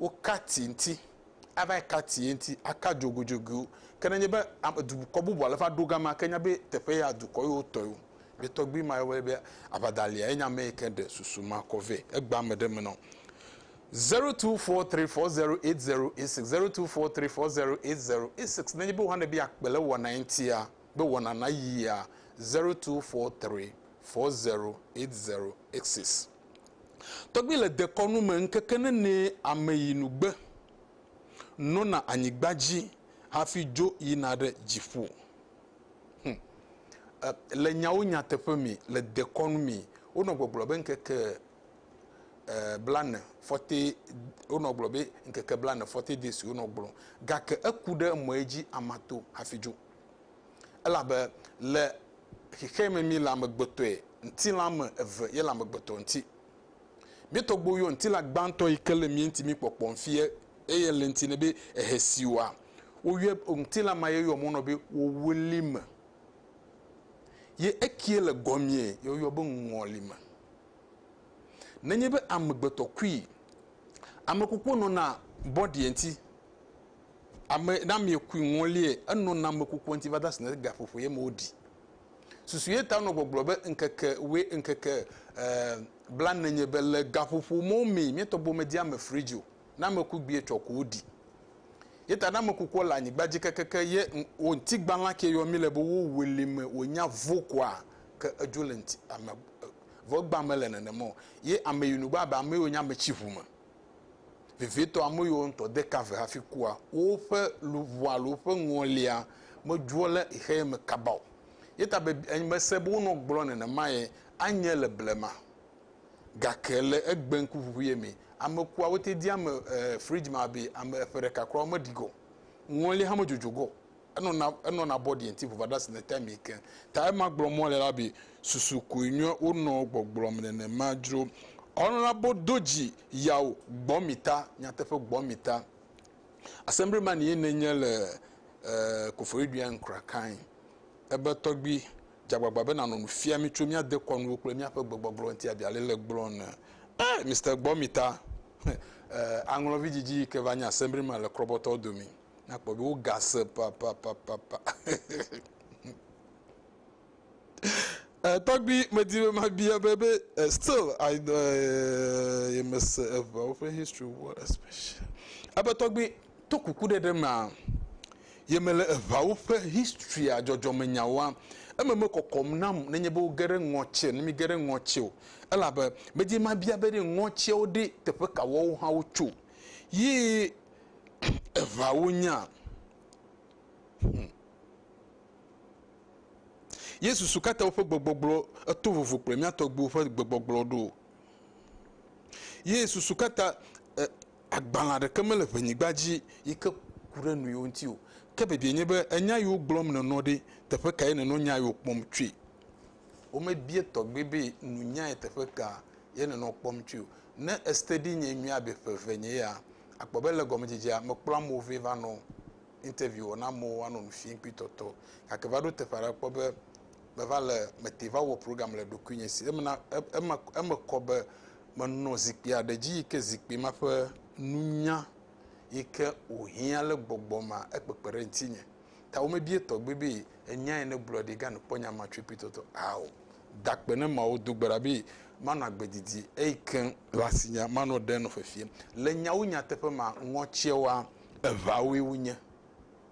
woka ti ŋuti, ava ka ti ŋuti, aka dzoguidzoguiwo. Ke ne enye be dukɔ bubu ale va ɖo gama, ke nya be teƒe ya dukɔ ye wotɔ ye o. Ye tɔgbui ma yɔe be Abadalia ye nye ame yi ke ɖe susu ma kɔ vɛ. Egbea ame ɖe me nɔ. 0243408086, 0243408086. Nenye be wohã be yeakpe le wɔna ye ŋutia, be wɔna nayia, 0243408086. Tɔgbi le dekɔnu me ŋkeke nenee ameyinugbe nɔna anyigba dzi hafi dzo yina ɖe dziƒo. Hum. E, le nyawo nyateƒe mi, le dekɔnu mi, wonɔ gbɔgblɔ be ŋkeke e, blane fɔte, wonɔ gblɔ be ŋkeke blane fɔte de si wonɔ gblɔ, gake eku ɖe emɔe dzi amato hafi dzo. Elabe le xexeɛ me mí le amegbetɔe ŋtilã me eve ye le amegbetɔ ŋti. Mí tɔgbuiwo yɔ ŋtilã gbãtɔ yi ke le mía ŋti mí kpɔkpɔ ŋfi ye eye le ŋti nɛ be ehe siwɔa wo yɔɛ be ŋtilã ma ye yɔ mɔ nɔ be wowelime ye ekie le gɔmee ye wo yɔ be ŋɔlime. Nenye be amegbetɔ kui, amekukua nɔna bɔɖiɛ ŋti ame na mi kui ŋɔlie enɔ na ame kukua ŋuti va de asi na gaƒoƒo ye me woɖi susu ye ta nɔ gbɔgblɔ be ŋkeke we ŋkeke eh, bla nenye be le gaƒoƒo mɔ mi mi tɔgbo me di ame fridge o na ame ku gbie tsɔ ko woɖi ye ta na ame kukua le anyigba dzi kekeke ye wo ŋuti gbala ke yɔ mi le be wo wele me wo nya vo koa ke edzo le ŋuti ame eh, vɔ gba me le nenema o ye ame yi nugba be ame yi wo nya ame tsi ʋu me Vevietɔ, ame yiwo ŋutɔ de ka ve hafi kua, woƒe luʋɔ alo woƒe ŋɔlia medzroa le xexeya me kaba o. Ye ta be mese be wonɔ gblɔ nenema ye anye le blema. Gake le egbe ŋkuʋuʋuye me, ame kua wote dia ame fridge me abe ame eƒe ɖeka kura womeɖi ge o. Ŋɔlia hã medzodzoge o. enɔ na enɔ na bɔ diɛ nti vova ɖa si ne ta mi ke ta ema gblɔ mɔ le la bi susu koe nyɔ wo nɔ gbɔgblɔ mi nene ma dzro ɔnɔ la bo do dzi yawo gbɔ mi ta nyateƒe gbɔ mi ta asembri ma ni ye ne nye le eh, kofori duya nkra kain ebe tɔgbi dzagbagba be nanɔ nu fia mi tso mia dekɔnuwo kple mia ƒe gbegbɔgblɔ nti abi ale le gblɔ ne eh, Mr. gbɔ mi ta eh, aŋlɔvi dzidzi yi ke va nye asembri ma le krɔbɔtɔ domi nakpɔ be wogase papapapapa tɔgbi medi be mabia be be eh, still i eh, yemese eveawo ƒe history wo especially ebe tɔgbi to kuku ɖe ɖe mea yemele eveawo ƒe historya dzɔdzɔmenyawoa eme mekɔkɔm nam nenye be woge ɖe ŋɔtsie ne mige ɖe ŋɔtsie o elabe medi mabia be ɖe ŋɔtsiewo ɖe teƒe kawoawo hã wotso yi eŋawo nya. Yesu su katã woƒe gbegbɔgblɔ eto vovo kple mía tɔgbuiwo ƒe gbegbɔgblɔ ɖo. Ye susu katã agbalẽ ɖeke mele ʋenyigba dzi yi ke ku ɖe nɔewo ŋuti o. Ke bibia nye be enya yiwo gblɔm nènɔ ɖe, teƒe kae nènɔ nya yiwo kpɔm tsoe? Womebia tɔgbe be nunyae teƒe ka ye nenɔ kpɔm tsoe o. Ne estedi nye nyuie abe ƒe eve nye ya, àkpɔ be le gɔmedzedzea mekplɔ amewo vɛ va nɔ interview wɔm na amewo woanɔ nu fiam kpli tɔtɔ. Gake va ɖo teƒe aɖe akpɔ be meva le, mete va wɔ program le ɖokuinye si. Emena, eme, eme kɔ be menɔ zikpui aɖe dzi yi ke zikpui ma ƒe nunya yi ke wòhiã le gbɔgbɔ mea, ekpekpe ɖe ŋutinye. ta womebie tɔgbe be enya yi negblɔ ɖi gan kpɔ nya ma tsoe pitɔtɔ a o. Da akpe ne Mawu do gbe ɖa be manɔ agbe didi eyi ke le asinye manɔ ɖe nɔ fefiem. Le nyawo nyateƒe mea, ŋɔtsɛwoa eʋawoe wonye.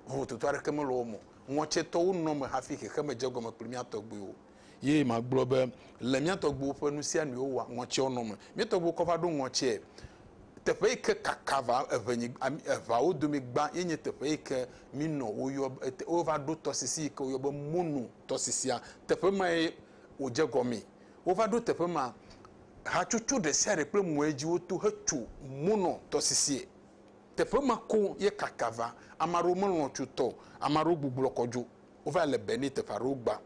Vovototo aɖeke mele wo me o. Ŋɔtsɛtɔwo nɔ eme hafi xexeme dze egɔme kpli mía tɔgbuiwo. Ye magblɔ be le mía tɔgbuiwo ƒe nu sia nuwo wɔa ŋɔtseɔnɔ me. Mía tɔgbuiwo kɔ va ɖo ŋɔtse teƒe yi ke kaka va eŋe nyi eŋeawo domi gbã ye nye teƒe yi ke mi nɔ wo yɔ be te wo va ɖo tɔsisi yi ke wo yɔ be Monu tɔsisia. Teƒe ma ye wo dze gɔme. Wo va ɖo teƒe ma. Hatsotso ɖe sia ɖe kple mɔe dzi wo to he tso Monu tɔsisiɛ. Teƒe ma koŋ ye kaka va. Ame aɖewo me lɔ̃ tso tɔ o. Ame aɖewo gbublɔ kɔ dzo. wova le be ne teƒe aɖewo gbã.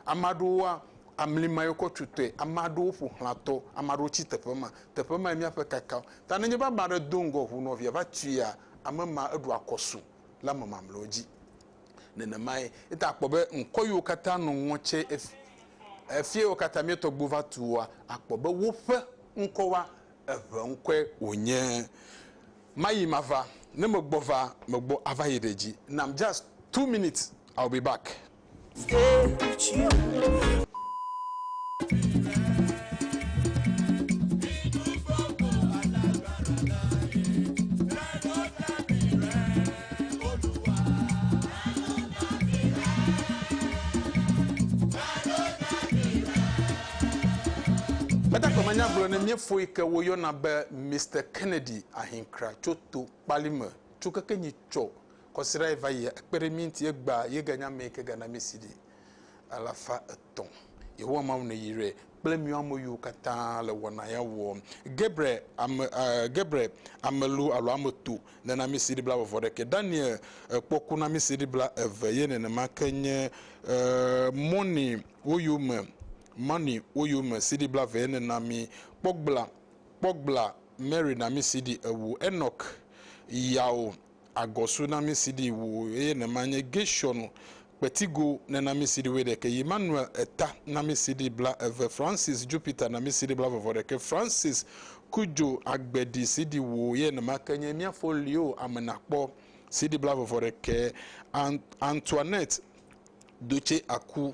Ame aɖewoa, amli ma yekɔ tso tɔe, ame aɖewo ƒo xlã tɔ, ame aɖewo tsi teƒe ma. Teƒe ma míaƒe kaka. Ta nenye be ame aɖe do ŋgɔ ŋu nɔvia va tuia, ame ma eɖo akɔ su le ame mamleawo dzi. Nenemae, eta akpɔ be ŋkɔ yiwo katã nɔ ŋɔ tse efia yiwo katã mía tɔgbuiwo va tua, akpɔ be woƒe ŋkɔwoa, eŋe ŋkɔe wonye. Mayi mava, ne megbɔ va, megbɔ ava yi ɖe dzi. Nam just two minutes I will be back. Stay with you. Meda gbe manyagblɔ ne miefoyi ke woyɔna be Mister Kennedy. yi ahinkra tso to kpali me tso keke nyi tsɔ kɔsira yi va yia ekpe ɖe mi ŋti egba ye ga nya amɛ ke ga na mi si ɖi alafa etɔ yehowa mawu ne yi re kple mi ame yiwo katã le wɔna ya wɔ gebre ame gebre amelu alo ame to ne na mi si ɖi bla vɔvɔ ɖeke daniel ekpɔ ku na mi si ɖi bla eve ye nenema ke nye mɔni wo yome mɔni wo yome si ɖi bla ve ye nena mi kpɔ gbla kpɔ gbla Mary na mí si ɖi ewu Enɔk yao agɔ su na mí si ɖi wu eye ne ma nye Geshɔn kpetigo ne na mí si ɖi wuiɖeke yi Manuel eta na mí si ɖi bla eve Francis Jupiter na mí si ɖi bla vɔvɔ ɖeke Francis Kujo agbe ɖi si ɖi wu eye ne ma ke nye mía fo lio ame na kpɔ si ɖi bla vɔvɔ ɖeke Antoinette Doce aku.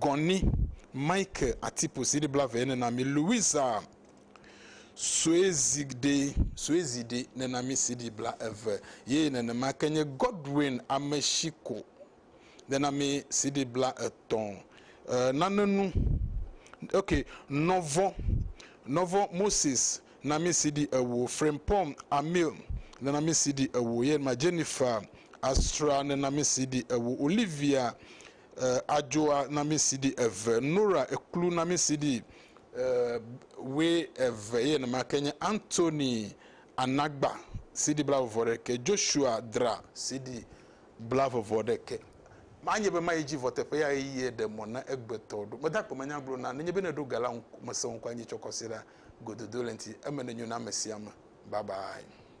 Gɔnny, Mike Atipo CD blave nena mi, Louisa Soezide, Soezide nena mi CD bla eve ye nenema ke nye Godwin Ameshiko nena mi CD bla etɔ̃. E, nanenu, ok, Nɔvɔ, Nɔvɔ Moses na mi CD ewo, Frimpong Amil nena mi CD ewo ye nenema Jennifer Asra nena mi CD ewo, Olivia eh, adzoa namisiɖi eve, Nora eklu namisiɖi eh, we eve ye nemake nye Anthony anagba siɖi bla vɔvɔ ɖeke, Joshua dra siɖi bla vɔvɔ ɖeke. Manye be mayi dzi vɔ teƒe ya eye ɖe mɔ na egbetɔ ɖo. Meda akpe manya gblɔ na nenye be neɖo ga la ŋu mese ŋkɔ anyi tsɔ kɔsiɖa gododo le ŋti eme nenyo na amesiame. Bye bye.